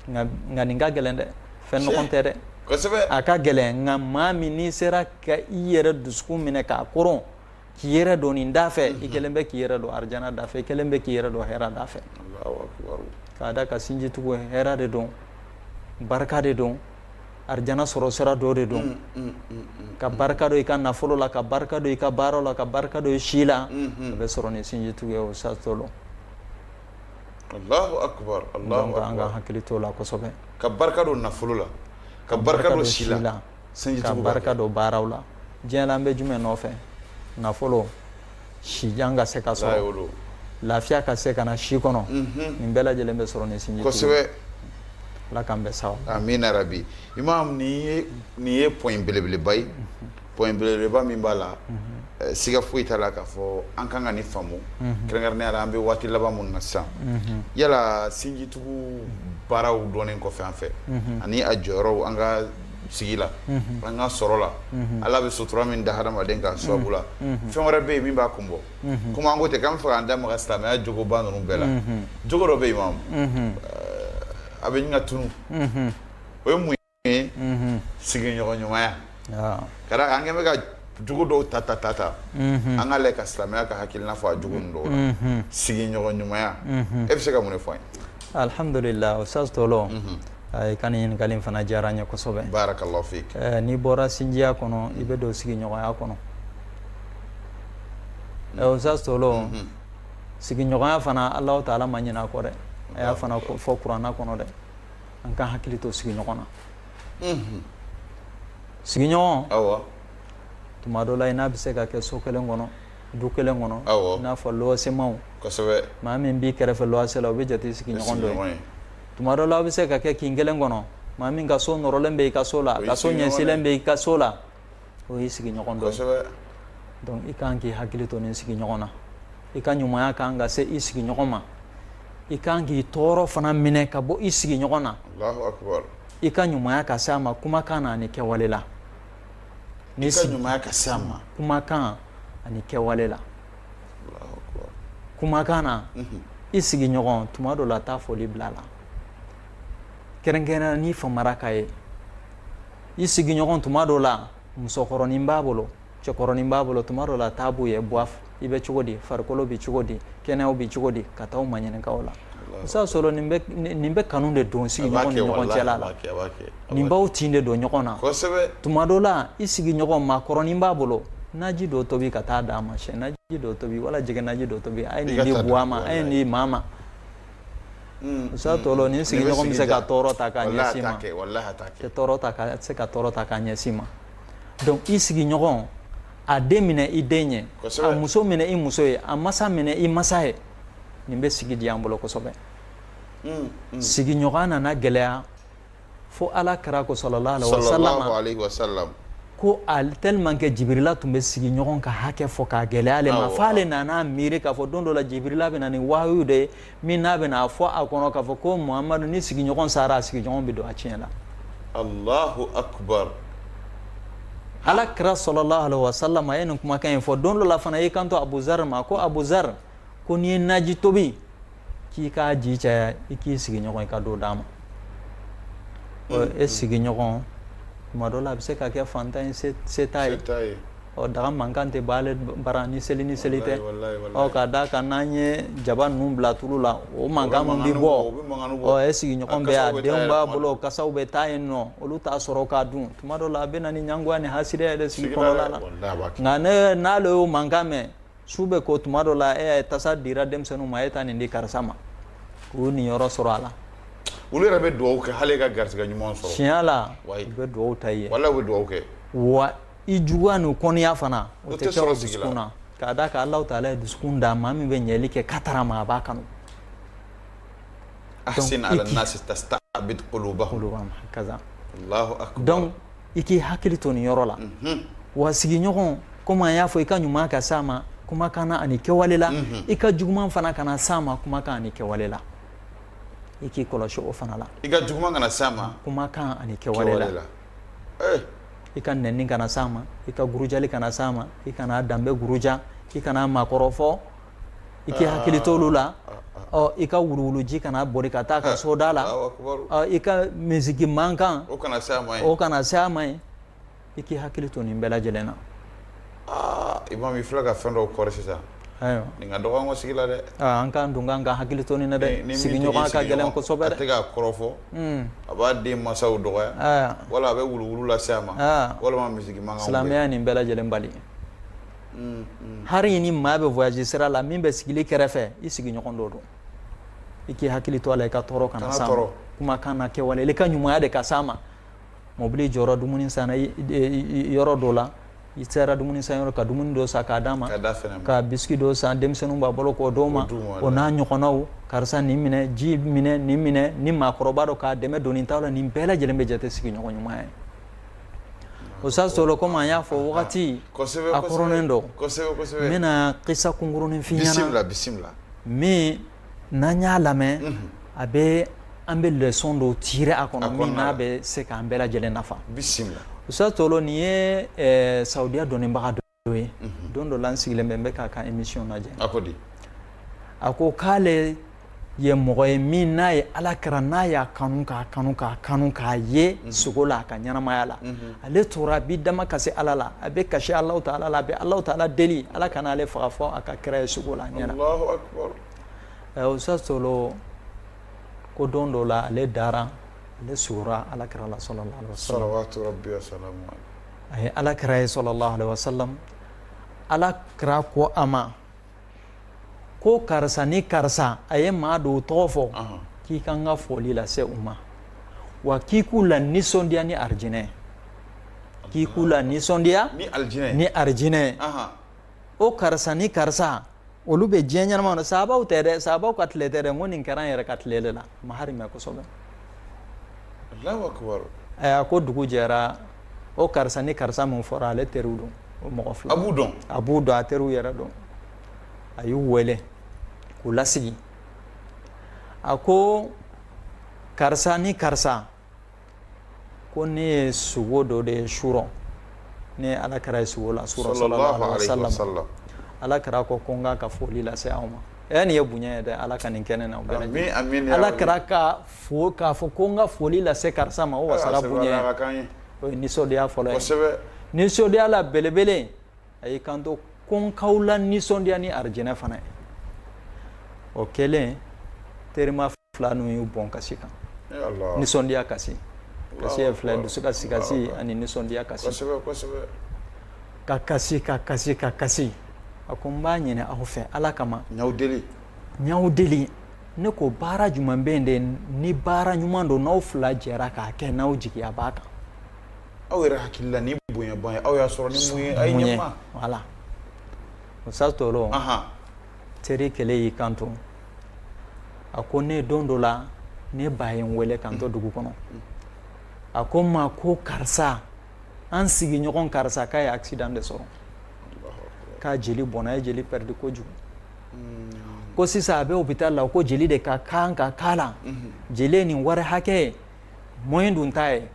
Speaker 2: nka nka nin ka gɛlɛn dɛ fɛn nɔgɔn tɛ dɛ kosɛbɛ a ka gɛlɛn nka maa min n'i sera ka i yɛrɛ dusukun minɛ k'a koron k'i yɛrɛ don nin da fɛ i kɛlen bɛ k'i yɛrɛ don arijana da fɛ i kɛlen bɛ k'i yɛrɛ don hɛrɛ da fɛ k'a da kan sinji tugu hɛrɛ de don barika de don arijana sɔrɔ sira dɔ de don ka barika don i ka nafolo la ka barika don i ka baara la ka barika don i si la a bɛ sɔrɔ ni sinji tugu ye ustaz tolo hakili to a la kosɛbɛ ka barika
Speaker 1: don nafolo la ka barika don si la ka barika
Speaker 2: don baaraw la diɲɛ la an bɛ jumɛn nɔfɛ nafolo si jan ka se ka sɔrɔ lafiya ka se ka na si kɔnɔ nin bɛɛ lajɛlen bɛ sɔrɔ ni sin ala k'an bɛɛ sara amina rabi
Speaker 1: imam nin ye point belebeleba ye point belebeleba min b'a la siga foyi t'a la k'a fɔ an ka kan ka nin faamu kɛrɛnkɛrɛnnenya an bɛ waati laban minnu na sisan yala sinjitugu baaraw dɔnnen kɔfɛ an fɛ ani a jɔyɔrɔw an ka sigi la an ka sɔrɔ la ala bɛ sutura min da hadamaden kan a sababu la fɛn wɛrɛ bɛ yen min b'a kun bɔ kɔmi an ko ten k'an b'a fɛ k'an da maga silamɛya jogoba ninnu bɛɛ la jogo dɔ bɛ yen imam a bɛ ɲini ka tunun o ye mun sigiɲɔgɔn ɲumanya ka da kan an kɛlen bɛ ka jogo dɔw ta ta ta ta an k'a lajɛ ka silamɛya ka hakilina fɔ a jogo ninnu dɔw la sigiɲɔgɔn ɲumanya e bɛ se ka mun de fɔ an ye alihamdulila
Speaker 2: ustaz tolo i ka ɲininkali fana diyara n ye kosɛbɛ barakallahu
Speaker 1: fik n'i bɔra
Speaker 2: sinjiya kɔnɔ i bɛ don sigiɲɔgɔnya kɔnɔ ustaz tolo sigiɲɔgɔnya fana alahu taala ma ɲinɛ a kɔ dɛ a y'a fana fɔ kuranɛ kɔnɔ dɛ an ka hakili to sigiɲɔgɔn na sigiɲɔgɔn tuma dɔ la i n'a bɛ se ka kɛ so kelen kɔnɔ du kelen kɔnɔ i n'a fɔ luwasemaw maa min b'i kɛrɛfɛ luwase la o bɛ jate sigiɲɔgɔn dɔ tuma dɔ la aw bɛ se ka kɛ kin kelen kɔnɔ maa min ka so nɔrɔlen bɛ i ka so la ka so ɲɛsinlen bɛ i ka so la o y'i sigiɲɔgɔn dɔ ye donc i kan k'i hakili to nin sigiɲɔgɔn na i ka ɲumanya kan ka se i sigiɲɔgɔn ma i kan k'i tɔɔrɔ fana minɛ ka bɔ i sigiɲɔgɔn na i ka ɲumanya ka se a ma kumakan na ani kɛwale la
Speaker 1: i ka ɲumanya ka se a ma
Speaker 2: kumakan ani kɛwale la kumakan na mhm. i sigiɲɔgɔn tuma dɔ la taa foli bila a la kɛrɛnkɛrɛnnenya n'i famara k'a ye i sigiɲɔgɔn tuma dɔ la musokɔrɔnin b'a bolo cɛkɔrɔnin b'a bolo tuma dɔ la taa b'u ye buwa i bɛ cogo di farikolo bɛ cogo di kɛnɛyaw bɛ cogo di ka taa u ma ɲininka u la sa sɔrɔ nin bɛ kanu de don sigiɲɔgɔn ni ɲɔgɔn cɛla la nin b'aw tin de don ɲɔgɔn na tuma dɔ la i sigiɲɔgɔn maakɔrɔnin b'a bolo naji dɔ tobi ka taa d'a ma sɛ naji dɔ tobi wala jɛgɛ naji dɔ tobi a ye nin di buwa ma a ye nin di maa ma Musa hmm. tɔɔrɔ ni sigiɲɔgɔn bɛ se ka tɔɔrɔ ta k'a ɲɛsin ma tɛ se ka tɔɔrɔ ta k'a ɲɛsin ma donc i sigiɲɔgɔn a den minɛ i den ye a muso minɛ i muso ye a masa minɛ i masa ye nin bɛ sigi diya an bolo kosɛbɛ hmm, hmm. sigiɲɔgɔn nana gɛlɛya fo ala kira ko sallallahu alaihi wasallam ko ali tellement que jibirila tun bɛ sigiɲɔgɔn ka hakɛ fɔ k'a gɛlɛya ale ma fo ale nana miiri k'a fɔ don dɔ la jibirila bɛ na ni wahayu de ye min n'a bɛna a fɔ a kɔnɔ k'a fɔ ko muhamadu ni sigiɲɔgɔn sara a sigiɲɔgɔn bɛ don a tiɲɛ la allahu akbar ala kira sallallahu alaihi wasallam a ye nin kumakan in fɔ don dɔ la fana i kanto abuzar ma ko abuzar ko n'i ye naji tobi k'i k'a ji caya i k'i sigiɲɔgɔn i ka dɔ d'a ma e sigiɲɔgɔn tuma dɔ la a bɛ se ka kɛ fantan ye se t'a ye ɔ daga mankan tɛ b'ale bara ni seli ni seli tɛ ɔ k'a da kan n'an ye jaba ninnu bila tulu la o mankan min bɛ bɔ e sigiɲɔgɔn bɛ a denw b'a bolo kasaw bɛ taa yen nɔ olu t'a sɔrɔ k'a dun tuma dɔ la a bɛ na ni ɲangoya ni hasidiya yɛrɛ sigi kɔnɔna la nka n'ale y'o mankan mɛn su bɛ ko tuma dɔ la e tasa dira denmisɛnninw ma a ye taa nin di karisa ma k'u y'u niyɔrɔ sɔrɔ a la olu yɛrɛ bɛ
Speaker 1: dugawu kɛ ala ka garisɛgɛ ɲuman sɔrɔ tiɲɛ la u bɛ
Speaker 2: dugawu ta i ye wala u bɛ dugawu kɛ
Speaker 1: wa i
Speaker 2: juguya ni kɔniya fana o tɛ kɛ u dusukun na k'a da kan alahu taala ye dusukun da maa min bɛ ɲɛli kɛ ka taara ma a b'a kanu
Speaker 1: ahsin ila nasi tastabid qulubahum kaza donc i
Speaker 2: k'i hakili to nin yɔrɔ la wa sigiɲɔgɔn komi an y'a fɔ i ka ɲuman ka s'a ma kumakan na ani kɛwale la i ka juguman fana kana s'a ma kumakan ani kɛwale la i k'i kɔlɔsi o fana la i ka juguman kana s'a
Speaker 1: ma kumakan ani
Speaker 2: kɛwale la eh. i ka nɛni kana s'a ma i ka gurujali kana s'a ma i kan'a danbe guruja i kan'a makɔrɔfɔ i k'i hakili to olu la ɔ i ka wuluwuluji kana boli ka taa a ka soda la ɔ i ka misiki mankan o kana se a ma ye o
Speaker 1: kana se a ma ye
Speaker 2: i k'i hakili to nin bɛɛ lajɛlen na aa
Speaker 1: imam i filɛ ka fɛn dɔw kɔrɔ sisan ayiwa nin ka dɔgɔ an ka sigi la dɛ aa an k'an dun k'an
Speaker 2: ka hakili to nin na dɛ sigiɲɔgɔn ka gɛlɛn kosɛbɛ dɛ a tɛ k'a kɔrɔfɔ
Speaker 1: hmm. a b'a den masaw dɔgɔya wala a bɛ wuluwulu lase a ma walima misiki mankan silamɛya nin bɛɛ lajɛlen
Speaker 2: bali hari ni maa bɛ voyage sira la min bɛ sigilen kɛrɛfɛ i sigiɲɔgɔn dɔ don i k'i hakili to a la i ka tɔɔrɔ kana s'a ma kumakan na kɛwale i ka ɲumanya de ka s'a ma mɔbili jɔra dumuni san yɔrɔ dɔ la i sera dumuni san yɔrɔ ka dumuni dɔ san k'a d'a ma ka biscuit dɔ san denmisɛnnin b'a bolo k'o d'o ma o n'a ɲɔgɔnnaw karisa nin minɛ ji minɛ nin minɛ ni maakɔrɔba don k'a dɛmɛ doni ta la nin bɛɛ lajɛlen bɛ jate sigiɲɔgɔn ɲumanya ye usa tolo kɔmi an y'a fɔ wagati a kɔrɔnen don n bɛna kisa kunkurunnin f'i ɲɛna min n'an y'a lamɛn a bɛ an bɛ leçon dɔ tirer a kɔnɔ min n'a bɛ se k'an bɛɛ lajɛlen nafa bisimila usa tolo nin ye saudiya dɔnnibaga dɔ ye don dɔ la n sigilen bɛ n bɛ k'a ka émission lajɛ a ko di a ko k'ale ye mɔgɔ ye min n'a ye ala kira n'a y'a kanu k'a kanu k'a kanu k'a ye mhm. sugo la a ka ɲɛnamaya la mhm. ale tora a b'i dama kasi ala la a bɛ kasi alahu taala la a bɛ alahu taala deli ala kana ale faga fo a ka kira ye sugo la a ɲɛna usa tolo ko don dɔ la ale dara ale sugora ala kira la salala
Speaker 1: a ye
Speaker 2: ala kira ye sallallahu alaihi wasallam ala kira ko a ma ko karisa ni karisa a ye maa dɔw tɔgɔ fɔ k'i ka n ka foli lase u ma wa k'i k'u la nisɔndiya ni arijinɛ ye k'i k'u la nisɔndiya ni arijinɛ ye o karisa ni karisa olu bɛ diɲɛ ɲɛnama na sabaw tɛ dɛ sabaw ka tile tɛ dɛ ko nin kɛra an yɛrɛ ka tile de la mahari mɛ kosɛbɛ a ko dugu jɛra o karisa ni karisa min fɔra ale teriw don o mɔgɔ fila a b'u dɔn a b'u dɔn a teriw yɛrɛ don a y'u wele k'u lasigi a ko karisa ni karisa ko ne ye sugo dɔ de ye surɔ ne ye ala kira ye sugo la surɔ ala kira ko ko n k'a ka foli lase aw ma ɛ nin ye bonya ye dɛ ala ka nin kɛ ne na ala kira ka fo k'a fɔ ko n ka foli lase karisa ma o wasara bonya ye o ye nisɔndiya fɔlɔ ye nisɔndiya la belebele a y'i kanto ko n k'aw la nisɔndiya ni arijinɛ fana ye o kɛlen terima fila ninnu y'u bɔn kasi kan nisɔndiya kasi kasi ye fila ye dusukasi kasi ani nisɔndiya kasi ka kasi ka kasi ka kasi a ko n b'a ɲini aw fɛ ala kama n y'aw deli n y'aw deli ne ko baara jumɛn bɛ yen de ni baara ɲuman don n'aw fila jɛra k'a kɛ n'aw jigiya b'a kan aw
Speaker 1: yɛrɛ hakili la nin bonyaba in ye aw y'a sɔrɔ ni mun ye
Speaker 2: voilà sa tɔ teri kelen y'i kanto a ko ne don dɔ la ne ba ye n wele ka n to dugu kɔnɔ a ko n ma ko karisa an sigiɲɔgɔn karisa k'a ye accident de sɔrɔ k'a jeli bɔnna a ye jeli perdi kojugu mm. ko sisan a bɛ hôpital la ko jeli de ka kan ka k'a la mm-hmm. jeli ye nin wari hakɛ ye moyen dun t'a ye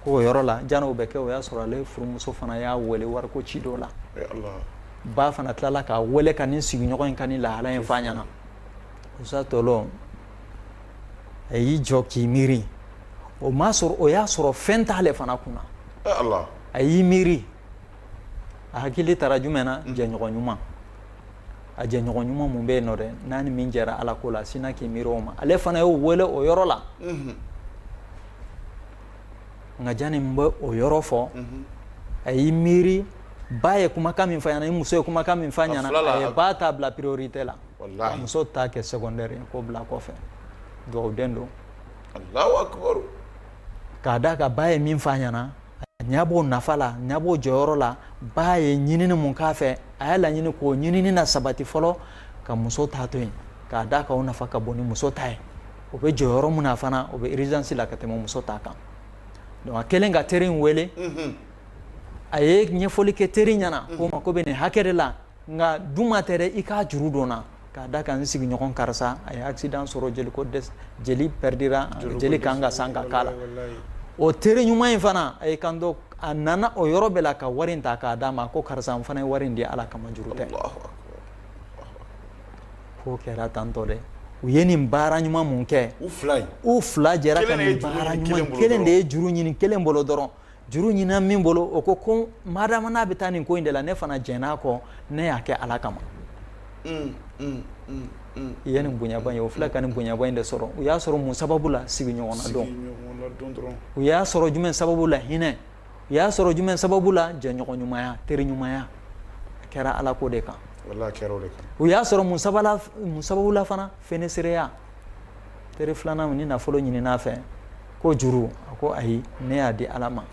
Speaker 2: ko o yɔrɔ la jan'o bɛ kɛ o y'a sɔrɔ ale furumuso fana y'a wele wariko ci dɔ la ba fana tilala k'a wele ka nin sigiɲɔgɔn in ka nin lahala in f'a ɲɛna musa tɔlɔ a y'i jɔ k'i miiri o m'a sɔrɔ o y'a sɔrɔ fɛn t'ale fana kunna a y'i miiri a hakili taara jumɛn na mm. jɛɲɔgɔn ɲuman a jɛɲɔgɔn ɲuman mun bɛ yen nɔ dɛ n'a ni min jɛra ala ko la sinna k'i miiri o ma ale fana y'o wele o yɔrɔ la mm-hmm. nka jani n bɛ o yɔrɔ fɔ mm-hmm. a y'i miiri ba ye kumakan min f'a ɲɛna ni muso ye kumakan min f'a ɲɛna a ye ba ta bila priorité la a muso ta kɛ secondaire ye k'o bila kɔfɛ dugawuden don
Speaker 1: k'a
Speaker 2: d'a kan ba ye min fɔ a ɲɛna ɲa b'o nafa la a ɲa b'o jɔyɔrɔ la ba ye ɲinini mun k'a fɛ a y'a laɲini k'o ɲinini nasabati fɔlɔ ka muso ta to yen k'a d'a kan o nafa ka bon ni muso ta ye o bɛ jɔyɔrɔ mun na fana o bɛ urgence la ka tɛmɛ muso ta kan donc a kɛlen ka teri in wele a ye ɲɛfɔli kɛ teri ɲɛna ko n mako bɛ nin hakɛ de la nka duma tɛ dɛ i k'a juru don n na k'a d'a kan n sigiɲɔgɔn karisa a ye accident sɔrɔ jeli ko dɛsɛ jeli perdira jeli kan ka san ka k'a la o teri ɲuman in fana a y'i kanto a nana o yɔrɔ bɛɛ la ka wari in ta k'a d'a ma ko karisa n fana ye wari in di ala kama juru tɛ k'o kɛra tantɔ dɛ u ye nin baara ɲuman mun kɛ u fila jɛra ka nin baara ɲuman kelen de ye juru ɲini kelen bolo dɔrɔn juru ɲinina min bolo o ko ko madama n'a bɛ taa nin ko in de la ne fana jɛn'a kɔ ne y'a kɛ ala kama mm, mm, mm, i ye nin bonyaba ye o filɛ ka nin bonyaba in de sɔrɔ u y'a sɔrɔ mun sababu la sigiɲɔgɔn nadon u y'a sɔrɔ jumɛn sababu la hinɛ u y'a sɔrɔ jumɛn sababu la jɛɲɔgɔn ɲumanya teri ɲumanya a kɛra ala ko de kan u y'a sɔrɔ mun sababu la fana fonisireya teri filanan nin nafolo ɲinin'a fɛ ko juru a ko ayi ne y'a di ala ma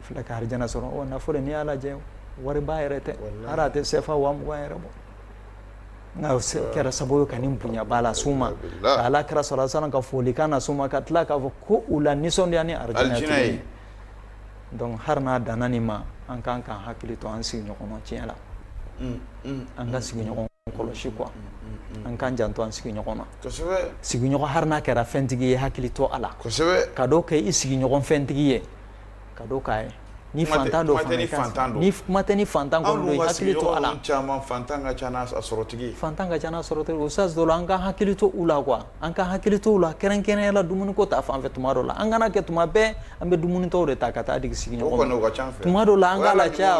Speaker 2: filɛ ka arijana sɔrɔ o nafolo n'i y'a lajɛ wariba yɛrɛ tɛ hali a tɛ sefa waa mugan yɛrɛ bɔ nka o kɛra sababu ye ka nin bonyaba las'u ma ka ala kira sala salam ka folikan nas'u ma ka tila k'a fɔ ko u lanisɔndiya ni arijana ye donc hali n'a danna nin ma an kan k'an hakili to an sigiɲɔgɔn na tiɲɛ la an ka sigiɲɔgɔn kɔlɔsi quoi an k'an janto an sigiɲɔgɔn na sigiɲɔgɔn hali n'a kɛra fɛntigi ye hakili to a la ka dɔ kɛ i sigiɲɔgɔn fɛntigi ye ka dɔ k'a ye ni fantan don fana ni kuma tɛ ni fantan kɔni don i hakili to a la
Speaker 1: fantan ka ca n'a
Speaker 2: sɔrɔtigi ustaz tɔlɔ an ka hakili to u la quoi an ka hakili to u la kɛrɛnkɛrɛnya la dumuniko ta fan fɛ tuma dɔ la an kana kɛ tuma bɛɛ an bɛ dumunitɔ de ta ka taa di sigiɲɔgɔn ma tuma dɔ la an k'a lacaya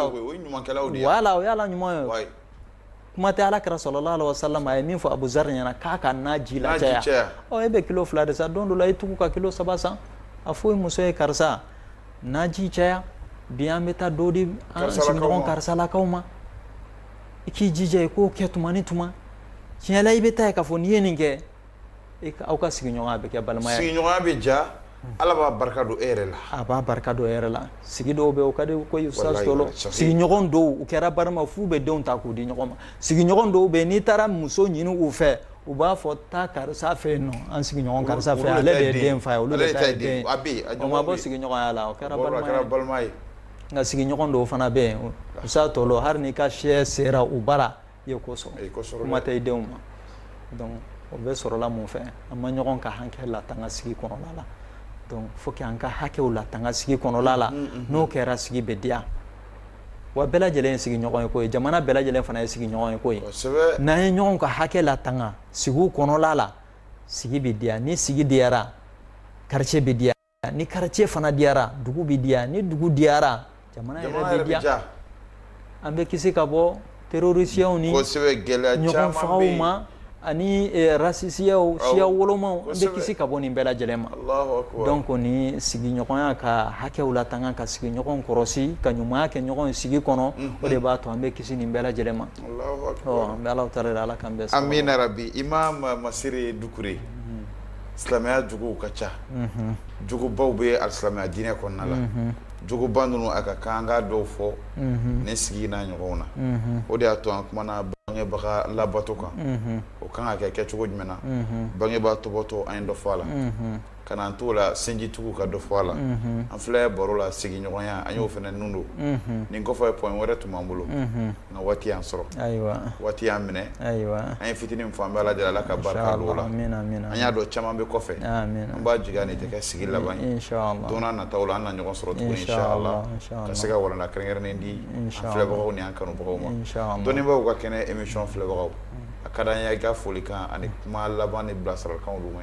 Speaker 2: wala o ye wale ɲuman ye kuma tɛ ala kira sallallahu alaihi wasallam a ye min fɔ abu zari ɲɛna k'a ka naji lacaya ɔ e bɛ kilo fila de san don dɔ la i tugu ka kilo saba san a fɔ i muso ye karisa naji caya bi an bɛ taa dɔ di an sigiɲɔgɔn karisalakaw ma i k'i jija i k'o kɛ tuma ni tuma tiɲɛ la i bɛ t'a ye k'a fɔ n'i ye nin kɛ aw ka sigiɲɔgɔnya bɛ kɛ balimaya ye sigiɲɔgɔnya bɛ diya
Speaker 1: ala b'a barika don e yɛrɛ la a b'a barika don e yɛrɛ
Speaker 2: la sigi dɔw bɛ o ka di ko ustaz tɔlɔ sigiɲɔgɔn dɔw u kɛra balima f'u bɛ denw ta k'u di ɲɔgɔn ma sigiɲɔgɔn dɔw bɛ n'i taara muso ɲini u fɛ u b'a fɔ taa karisa fɛ yen nɔ an sigiɲɔgɔn karisa fɛ ale de ye den fa ye olu de ta ye den o ma bɔ sigiɲɔgɔnya la o kɛra balima ye nka sigiɲɔgɔn dɔw fana bɛ yen ustaz tɔlɔ hali n'i ka shɛ sera u bara i ye ko sɔrɔ i ye ko sɔrɔ kuma tɛ i denw ma donc o bɛ sɔrɔla mun fɛ an ma ɲɔgɔn ka hakɛ latanga sigi kɔnɔna la donc faut que an ka hakɛw latanga sigi kɔnɔna la n'o kɛra sigi bɛ diya wa bɛɛ lajɛlen ye sigiɲɔgɔn ye koyi jamana bɛɛ lajɛlen fana ye sigiɲɔgɔn ye koyi n'an ye ɲɔgɔn ka hakɛ latanga sigiw kɔnɔna la sigi bɛ diya ni sigi diyara quartier bɛ diya ni quartier fana diyara dugu bɛ diya ni dugu diyara jamana yɛrɛ bɛ diya an bɛ kisi ka bɔ terorisiyaw ni ɲɔgɔn fagaw ma ani rasisiyaw siya wolomaw an bɛ kisi ka bɔ nin bɛɛ lajɛlen ma donc ni sigiɲɔgɔnya ka hakɛw latanga ka sigiɲɔgɔn kɔlɔsi ka ɲumanya kɛ ɲɔgɔn sigi kɔnɔ o de b'a to an bɛ kisi nin bɛɛ lajɛlen ma an bɛ alahu taala ala k'an bɛɛ sababa amina yarabi imam
Speaker 1: masire dukure silamɛya jogow ka ca jogobaw bɛ alisilamɛya diinɛ kɔnɔna la jogoba ninnu a ka kan an ka dɔw fɔ nin sigi n'a ɲɔgɔnw na o de y'a to an kumana bangebaga labato kan o kan ka kɛ kɛcogo jumɛn na bangebaa topoto an ye dɔ fɔ a la kana an t'o la sinjitugu ka dɔ fɔ a la an filɛ baro la sigiɲɔgɔnya an y'o fana n don nin kɔfɛ point wɛrɛ tun b'an bolo Nka waati y'an sɔrɔ waati y'an minɛ an ye fitinin min fɔ an bɛ ala deli ala ka barika don o la an y'a dɔn caman bɛ kɔfɛ an b'a jigi nin tɛ kɛ sigi laban ye don nataw la an na ɲɔgɔn sɔrɔ tuguni inshallah ka se ka walanda kɛrɛnkɛrɛnnen di an filɛbagaw ni an kanubagaw ma dɔnnibaaw ka kɛnɛ émission filɛbagaw a ka d'an ye i ka folikan ani kuma laban ni bilasiralikanw ma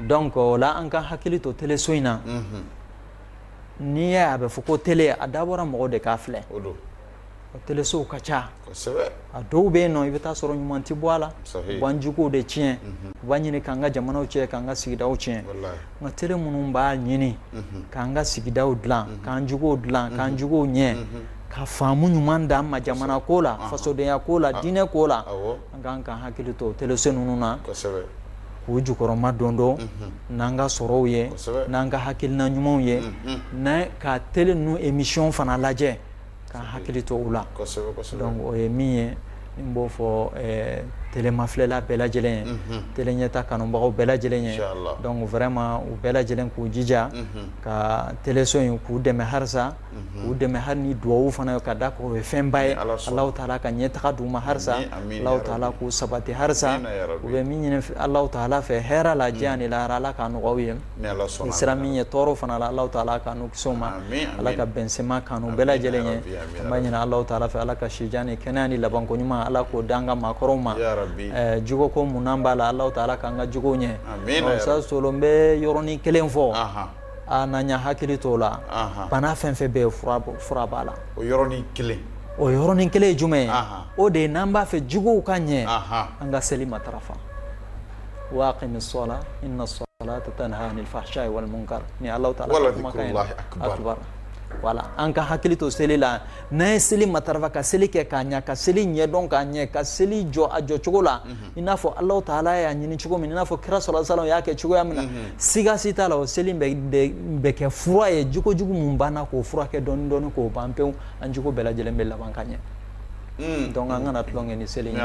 Speaker 2: donc o la an ka hakili to teleso in na n'i y'a ye a bɛ fɔ ko tele a dabɔra mɔgɔ de k'a filɛ telesow ka ca a dɔw bɛ yen nɔn i bɛ taa sɔrɔ ɲuman tɛ bɔ a la u b'an jogo de tiɲɛ u b'a ɲini k'an ka jamanaw tiɲɛ k'an ka sigida tiɲɛ nka tele minnu b'a ɲini k'an ka sigida dila k'an jogow dila k'an jogow ɲɛ ka faamu ɲuman d'an ma jamana ko la fasodenya ko la diinɛ ko la An ka kan ka hakili to teleso ninnu na k'u jukɔrɔma dondon n'an ka sɔrɔw ye n'an ka hakilina ɲumanw ye an ka tele ninnu emisiyɔn fana lajɛ ka hakili to u la donc o ye min ye n b'o fɔ telemafilɛla bɛɛ lajɛlen ye tele ɲɛta kanubagaw bɛɛ lajɛlen ye donc vraiment u bɛɛ lajɛlen k'u jija ka teleso in k'u dɛmɛ halisa u dɛmɛ hali ni dugawu fana ka da o ye fɛnba ye alahu taala ka ɲɛtaga d'u ma halisa ala k'u sabati halisa u bɛ min ɲini alahu taala fɛ hɛrɛ la diɲɛ ni lahara ala k'a nɔgɔya u ye n'u siranna min ɲɛ tɔɔrɔ fana la alahu taala k'u kisi o ma ala k'a bɛn sɛn ma k'an n'u bɛɛ lajɛlen ye an b'a ɲini alahu taala fɛ ala ka si jan ni kɛnɛya ni labanko ɲuman ala k'o d'an ka maakɔrɔw ma jogo ko minnu b'a la alahu taala k'an ka jogo ɲɛ ustaz Tolo n bɛ yɔrɔnin kelen fɔ aa n'an y'an hakili t'o la Anhan. bana fɛn fɛn bɛ yen fura b'a la
Speaker 1: o yɔrɔnin kelen ye
Speaker 2: jumɛn ye Anhan. o de ye n'an b'a fɛ jogow ka ɲɛ Anhan. an ka seli matarafa waaqimi sɔla inna salata tanha anil fahsha'i wal munkar ni Allahu taala ka kumakan ye. Wala dhikrullahi akbar. akbar wala an ka hakili to seli la n'an ye seli matarafa ka seli kɛ k'a ɲɛ ka seli ɲɛdɔn k'a ɲɛ ka seli jɔ a jɔcogo la i n'a fɔ alahu taala y'a ɲini cogo min i n'a fɔ kira sallallahu alayhi wasallam y'a kɛ cogoya min na siga si t'a la o seli bɛ kɛ fura ye jogo jugu minnu b'an na k'o furakɛ dɔɔni dɔɔni k'o ban pewu an jogo bɛɛ lajɛlen bɛ laban ka ɲɛ hmm. donc an kana tulon kɛ ni seli ye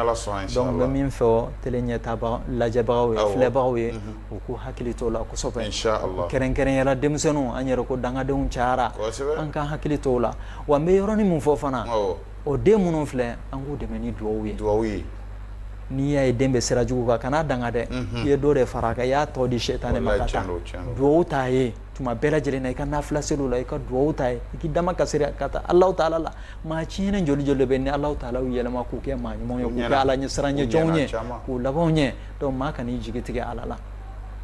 Speaker 2: donc n bɛ min fɔ tele ɲɛta lajɛbagaw ye filɛbagaw ye u k'u hakili to o la kosɛbɛ kɛrɛnkɛrɛnyala denmisɛnninw an yɛrɛ ko dangadenw cayara an k'an hakili to o la wa n bɛ yɔrɔnin min fɔ fana o den minnu filɛ an k'u dɛmɛ ni dugawu ye n'i y'a ye den bɛ sira jugu kan kan'a danga dɛ i ye dɔ de fara a kan i y'a tɔ di sitanɛ ma ka taa dugawu t'a ye tuma bɛɛ lajɛlen na i ka nafila seliw la i ka dugawu t'a ye i k'i damakasi ka taa alahu taala la maa tiɲɛnen joli joli bɛ yen alahu taala y'u yɛlɛma k'u kɛ maa ɲumanw ye k'u kɛ ala ɲɛsirannen jɔnw ye k'u labanw ɲɛ donc maa kan'i jigi tigɛ ala la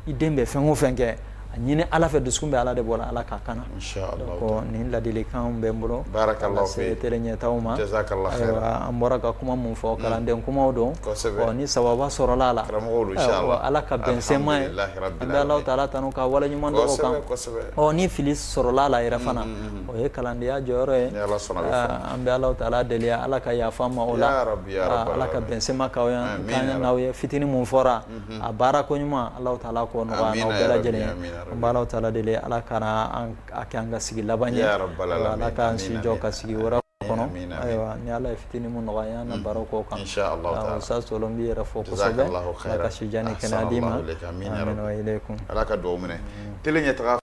Speaker 2: i den bɛ fɛn o fɛn kɛ a ɲini ala fɛ dusukun bɛ ala de bolo ala k'a kana nin ladilikan bɛ n bolo ka se tele ɲɛta ma an bɔra ka kuma min fɔ kalanden kumaw don ni sawaba sɔrɔla a la ala k'a bɛn sɛn ma an bɛ alahu taala tanu k'a waleɲuman dɔn o kan ni fili sɔrɔla a la yɛrɛ fana o ye kalandenya jɔyɔrɔ ye an bɛ alahu taala deli ala ka yafa an ma o la ala k'a bɛn sɛn ma an n'aw ye fitinin min fɔra a baara ko ɲuman alahu taala k'o nɔgɔya n'aw bɛɛ lajɛlen ye an b'alahu taala deli ala kana a kɛ an ka sigi laban ye ala k'an si jɔ ka sigi wɛrɛ kɔnɔ ayiwa ni ala ye fitinin min nɔgɔya an na baro ko kan ustaz tolo n b'i yɛrɛ fo kosɛbɛ ala ka sijan ni kɛnɛya d'i ma amin wa ilaykum ala ka dugawu minɛ
Speaker 1: tele ɲɛ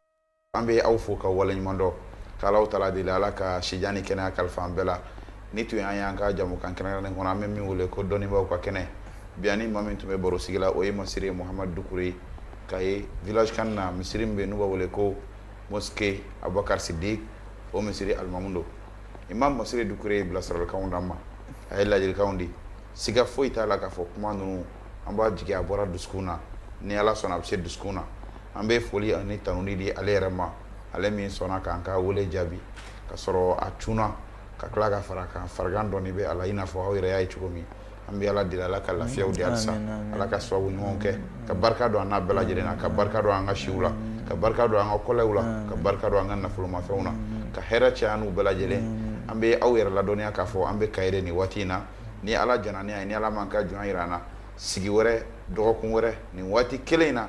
Speaker 1: an bɛ aw fo ka waleɲumandɔn k'alahu taala deli ala ka sijan ni kɛnɛya kalifa an bɛɛ la nin tun y'an y'an ka jɛmukan kɛrɛnkɛrɛnnen kɔnɔ an bɛ min wele ko dɔnnibaaw ka kɛnɛ bi ani maa min tun bɛ baro sigi la o ye masiri muhamadu dukure ye kayi village kan na misiri min bɛ n'u b'a wele ko mosquée abubakari sidiki o misiri alimamu don imam masiri dukure ye bilasiralikanw d'an ma a ye ladilikanw di siga foyi t'a la k'a fɔ kuma ninnu an b'a jigin a bɔra dusu na ni ala sɔnna a bɛ se dusu na an bɛ foli ani tanuni di ale yɛrɛ ma ale min sɔnna k'an ka weele jaabi ka sɔrɔ a cunna ka tila ka fara kan farigan dɔɔnin bɛ a la i n'a fɔ aw yɛrɛ y'a ye cogo min an bɛ ala deli ala ka lafiyaw di halisa ala ka sababu ɲumanw kɛ ka barika don an n'a bɛɛ lajɛlen na ka barika don an ka siw la ka barika don an ka kɔlɛw la ka barika don an ka nafolomafɛnw na ka hɛrɛ caya n'u bɛɛ lajɛlen an bɛ aw yɛrɛ ladɔnniya k'a fɔ an bɛ k'a yira nin waati in na ni ala jɛnna n'a ye ni ala m'a ka jɔn jira an na sigi wɛrɛ dɔgɔkun wɛrɛ nin waati kelen in na